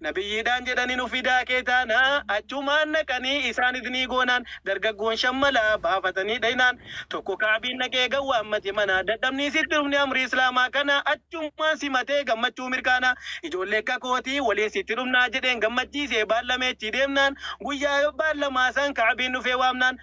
Nabiyyiidhaan jedhanii nu fidaa kee taanaa achumaan dhaqanii isaan idnii goonaan dargaggoon shan mala baafatanii dhaynaan tokko Ka'abiin dhaqee gad waammate manaa dadhabnii sitti dhufne amrii islaamaa kana achumaan simatee gammachuu mirkaanaa ijoollee akka kootii waliin sitti dhufnaa jedheen gammachiisee baallamee achii deemnaan guyyaa baallamaa san Ka'abiin dhufee waamnaan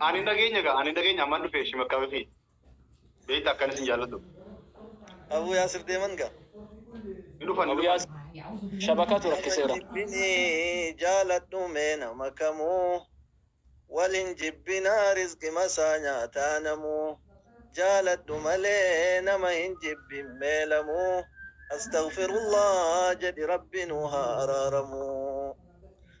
Ani hin dhageenye gaa, ani hin dhageenye amman dhufe ishii makka fi beekta akkan isin jaalladhu. Abuu Yaasir deeman gaa. Ni dhufan ni Abu dhufan. Yaasir shabakatu rakkiseera. Jibbinii jaaladhu mee nama kamuu Wal hin jibbinaa rizqima isaa nyaataa namuu Jaaladhu malee nama hin jibbin mee lamuu Astaghfirullah jedhi rabbi nuu haa araaramuu.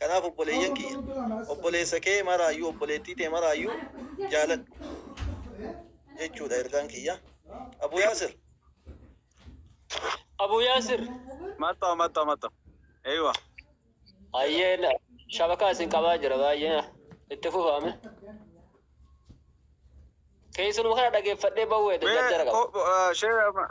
Kanaaf obboleeyyan kiyya! Obboleessa kee maraayyuu, obboleettii tee maraayyuu jaaladhu jechuu dha ergaan kiyya. Abu Yaasir! Abu Yaasir! Matta matta matta. Eywa. Hayyee na- shabakaa isin qabaa jira baay'ee itti fufaame. Keessanuma kana dhageeffadhee bawweedha Mee jarjara qaba. ko- eh, shee-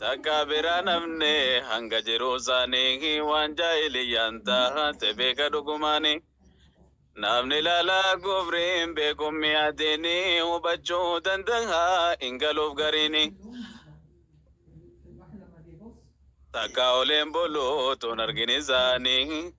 Takka biraan hafne hanga jiruu saanii waan jaahiliyyaan taate beeka dhugumaani. Namni laalaa kufriin beekuun mi'aatiini hubachuu danda'a hin galuuf gariini. Takka oleen buluutuun argin isaanii.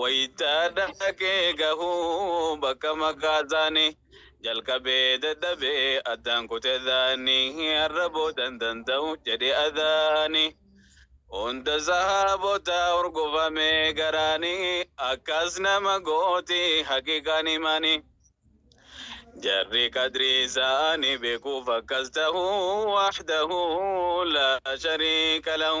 wayita dhaqee gahu bakka magaasaanii jalqabee dadhabee addaan kute dhaanii har'a boodan danda'u jedhe adhaanii hunda sahaabota hurgufamee garaanii akkas nama gooti haqiqaan imaanii jarri qadrii isaanii beekuuf akkas ta'u wahdahu laa shariika lahu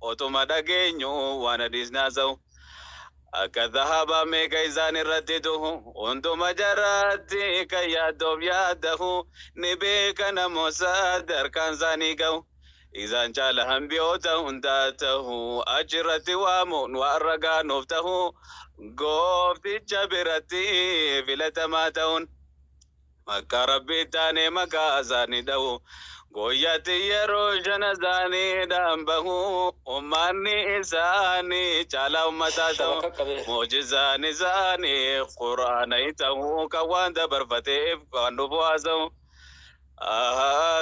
otuma dhageenyu waan hadiisni haasa'u akka dhahabaa meeqa isaan irratti duhu hunduma jaraatti kan yaaddoof yaaddahu ni beeka namoota darkaan isaanii ga'u isaan caala hambiyoota hundaa ta'u achirratti waamuun waan ragaa nuuf ta'u goofticha biratti filatamaa ta'uun Akka Rabbi itti aanee maqaa isaanii dha'u. Guyyaatti yeroo shan azaaniidhaan bahu. Ummanni isaanii caalaa ummataa ta'u. Mu'jizaan isaanii Qur'aana hin ta'u. Kan waan dabarfateef waan dhufu haasa'u.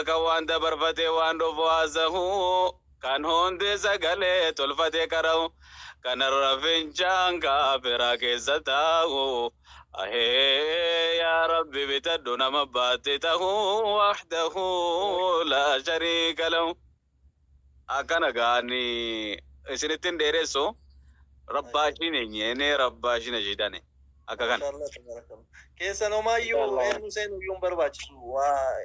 Kan waan dabarfatee waan dhufu haasa'u. Kan hundi sagalee tolfatee qara'u Kanarra fincaan kaafiraa keessa taa'u Ahee yaa Rabbi bitadhu nama abbaatti tahu Wahdahu laa shariika lahu Akkana gaani isinittin dheeressu Rabbaashiin eenyeenee rabbaashiin ashiidane akka kana. Mashallah tabarakallah. Keessan homaayyuu Mashallah. eenyu seenuyyuu hin barbaachisu. Waa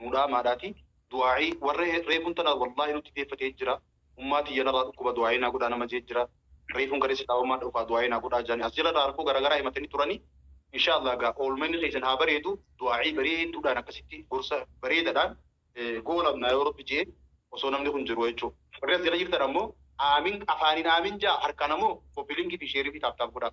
nuu dhaamaadhaati du'aa'ii warra reefuun tana wallaahi nutti deeffatee jira ummaa tiyya narraa dhukkuba du'aa'ii naa godhaa nama jee jira reefuun kaleessa daawammaan dhufaa du'aa'ii naa godhaa jaanii as jalarraa rakkoo garaagaraa himatanii turanii inshaallah egaa oolmanni keessan haa bareedu du'aa'ii bareedduudhaan akkasitti gorsa bareedadhaan goolabnaa yoo rabbi jee osoo namni kun jiru jechuu warri as jala jirtan ammoo aamin afaaniin aamin jaa harkaan ammoo kopilingi fi sheerii fi taaptaap godhaa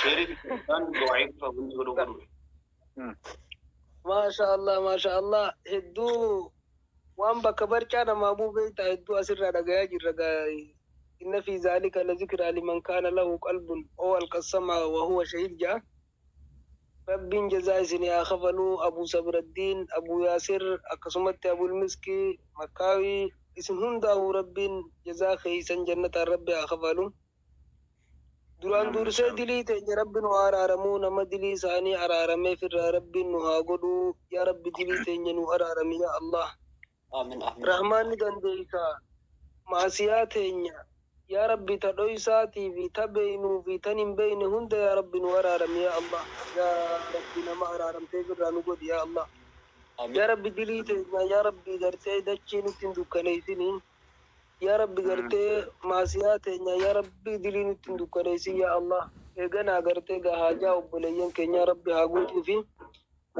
Sheerii isaan du'aa'iif wanti godhu godhu. Maasha Allah, maasha Allah. Hedduu waan bakka barcaa namaa bu'u beektaa hedduu asirraa dhagayaa jirra gaa'e. Inna fi zaalika la zikraa liman kaana lahu qalbun oo alqassamaa wa huwa shahiid ja'a. Rabbiin jazaa isinii haa kafaluu Abuu Sabiraddiin, Abuu Yaasir, akkasumatti Abul Miski, Makkaawii isin hundaahuu Rabbiin jazaa keessan jannataan Rabbi haa kafalu. Duraan dursee dilii teenya rabbi nu haa araaramuu nama dilii isaanii araarameef irraa rabbiin nu haa godhuu yaa rabbi dilii teenya nuu araarami yaa Allah rahmaan ni dandeeysa maasiyaa teenya yaa rabbi ta dhoysaatii fi ta beeynuu fi tan hin beeyne hunda yaa rabbi nu araarami yaa Allah yaa rabbi nama araaramteef irraa nu godhi yaa Allah yaa rabbi dilii teenya yaa rabbi gartee dachii nutti hin dukkaneeysinii Yaa rabbi gartee maasiyaa teenyaa yaa rabbi dilii nutti hin dukkaneessin yaa Allah eeganaa gartee gaa haajaa obboleeyyan keenyaa rabbi haa guutuufi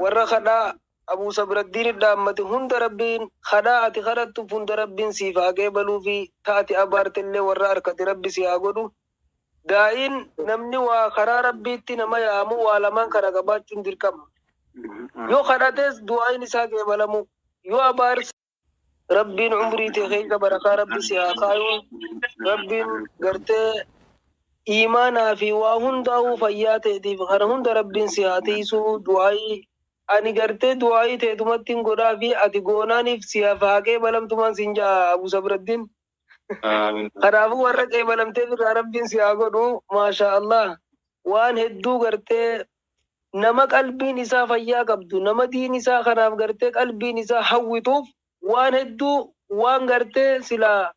warra kadhaa Abuu Sabraddiin dhaammate hunda rabbiin kadhaa ati kadhattu hunda rabbiin siif haa qeebaluufi ta ati abaartellee warra arkate rabbi si haa godhu daa'iin namni waa karaa rabbiitti nama yaamu waa lamaan kana qabaachuun dirqama yoo kadhates du'aa'iin isaa qeebalamuu yoo abaarse Rabbiin umrii tee keessa barakaa rabbi si haa kaayuu rabbiin gartee iimaanaa fi waa hundaa'uu fayyaa teetiif kana hunda rabbiin si haa tiisuu du'aayii ani gartee du'aayii teetumattiin godhaa fi ati goonaaniif si haa faaqee balamtumaan siin ja'a abu sabraddin kanaafuu warra qeebalamteef irraa rabbiin si haa godhu maashaa allah waan hedduu gartee Nama qalbiin isaa fayyaa qabdu, nama diin isaa kanaaf gartee qalbiin isaa hawwituuf waan hedduu waan gartee silaa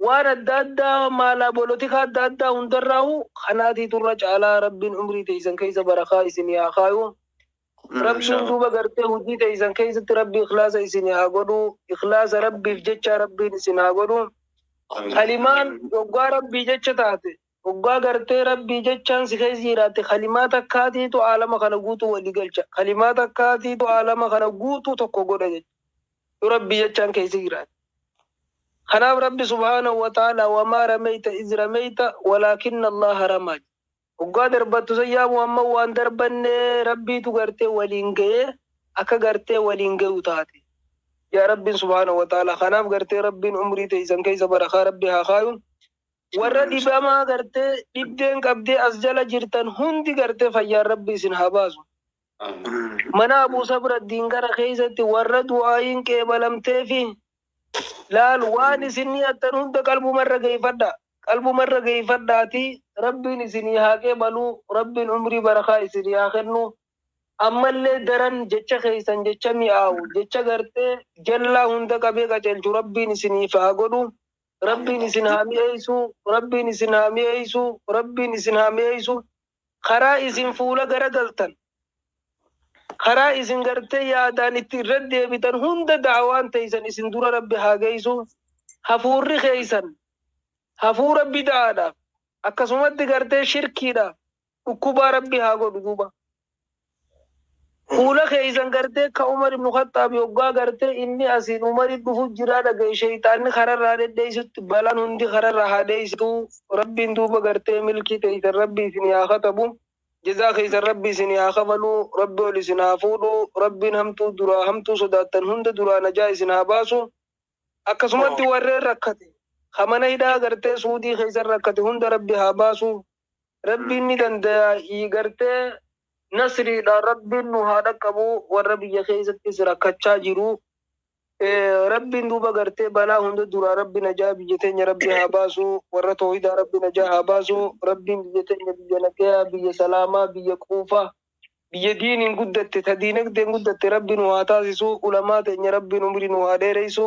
waan adda addaa maalaa bolotikaa adda addaa hundarraahuu kanaatiitu irra caalaa Rabbiin umrii teeysan keeysa barakaa isinii haa kaayu. Rabbiin Maashaallah. duuba gartee hujii teeysan keeysatti Rabbi ikhlaasa isinii haa godhu. Ikhlaasa Rabbiif jechaa Rabbiin isin haa godhu. Kalimaan yoggaa Rabbii jecha taate Hoggaa gartee Rabbii jechaan si keessa jiraatte kalimaa takkaatiitu aalama kana guutuu walii galcha. Kalimaa takkaatiitu aalama kana guutuu tokko godha jecha. Yoo Rabbii jechaan keessa jiraatte. Kanaaf Rabbi subhaanahu wa ta'aalaa wamaa rameyta iz rameyta walaakinna Allaaha ramaa jedhe. Hoggaa darbattu san yaa Muhammad waan darbanne Rabbiitu gartee waliin gaye akka gartee waliin gayu taate. Jaa Rabbiin subhaanahu wa ta'aalaa. Kanaaf gartee Rabbiin umrii teeysan keessa barakaa Rabbi haa kaayu. Warra dhibamaa gartee dhibdeen qabdee as jala jirtan hundi gartee fayyaan rabbi isin haa baasu. Mana Abuu Sabraddiin gara keessatti warra du'aayiin qeebalamtee fi laal waan isin niyattan hunda qalbumarra geeffadha. Qalbumarra geeffadhaati rabbiin isinii haa qeebaluu rabbiin umrii barakaa isinii haa kennu. Ammallee daran jecha keessan jecha mi'aawu jecha gartee jallaa hunda qabee qajeelchu rabbiin isiniif haa godhu. Rabbiin isin haa mi'eessuu, Rabbiin isin haa mi'eessuu, Rabbiin isin haa mi'eessuu. Karaa isin fuula garagaltan, karaa isin gartee yaadaan itti irra deebitan hunda da'awaan teeysan isin dura Rabbi haa geeysu. Hafuurri keeysan hafuura bida'aadhaaf, akkasumatti gartee shirkiidhaaf, Dhukkubaa rabbi haa godhu duuba. Fuula keessan gartee ka Umar ibn Khaxxaabi hoggaa gartee inni asiin Umari dhufu jiraa dhagaye sheyxaanni kararraa dhedheessutti balaan hundi kararraa haa dheessitu rabbiin duuba gartee milkii teessan rabbi isinii haa katabu jazaa keessan rabbi isinii haa kafalu rabbi ol isin haa fuudhu rabbiin hamtuu duraa hamtuu sodaattan hunda duraa najaa isin haa baasu akkasumatti warreen rakkate ka mana hidhaa gartee suudii keessan rakkate hunda rabbi haa baasu Rabbiin ni dandayaa ii gartee nasriidha rabbiin nu haa dhaqqabu warra biyya keessattis rakkachaa jiru rabbiin duuba gartee balaa hunda duraa rabbi najaa biyya teenya rabbi haa baasu warra toohidaa rabbi najaa haa baasu rabbiin biyya teenya biyya nagayaa biyya salaamaa biyya quufa biyya diiniin guddatte ta diinagdeen guddatte rabbi nu haa taasisu ulamaa teenya rabbiin umrii nu haa dheereysu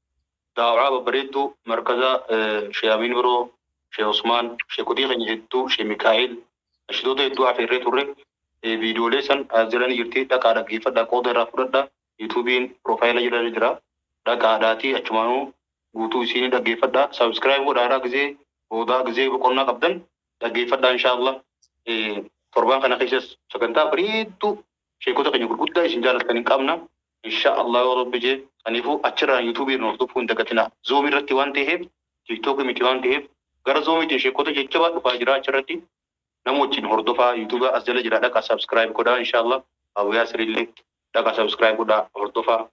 Daaw'aa babbareedduu markaza Shee Amiin Biroo, Shee Usmaan, sheekotii keenya hedduu, Shee Mikaa'il, nashidoota hedduu afeerree turre. Viidiyoolee san as jala ni jirti dhaqaa dhaggeeffadhaa qooda irraa fudhadha. Yuutuubiin piroofaayila jala ni jira dhaqaadhaatii achumaanuu guutuu isii ni dhaggeeffadhaa. Subscribe godhaaraa gizee boodaa gizee boqonnaa qabdan dhaggeeffadhaa inshaa Allah. Torbaan kana keessas sagantaa bareedduu Sheekota keenya gurguddaa isin jaalattan hin qabna inshaa Allah yoo Rabbi jee saniifuu achirraan YouTube irra hordofuu hin dagatinaa Zoom irratti waan teheef TikTok miti waan teheef gara Zoom tiin sheekota jajjabaa dhufaa jiraa achirratti nama wajjiin hordofaa YouTube as jala jiraa dhaqaa subscribe godhaa inshaa Allah Abu Yaasir illee dhaqaa subscribe godhaa hordofaa.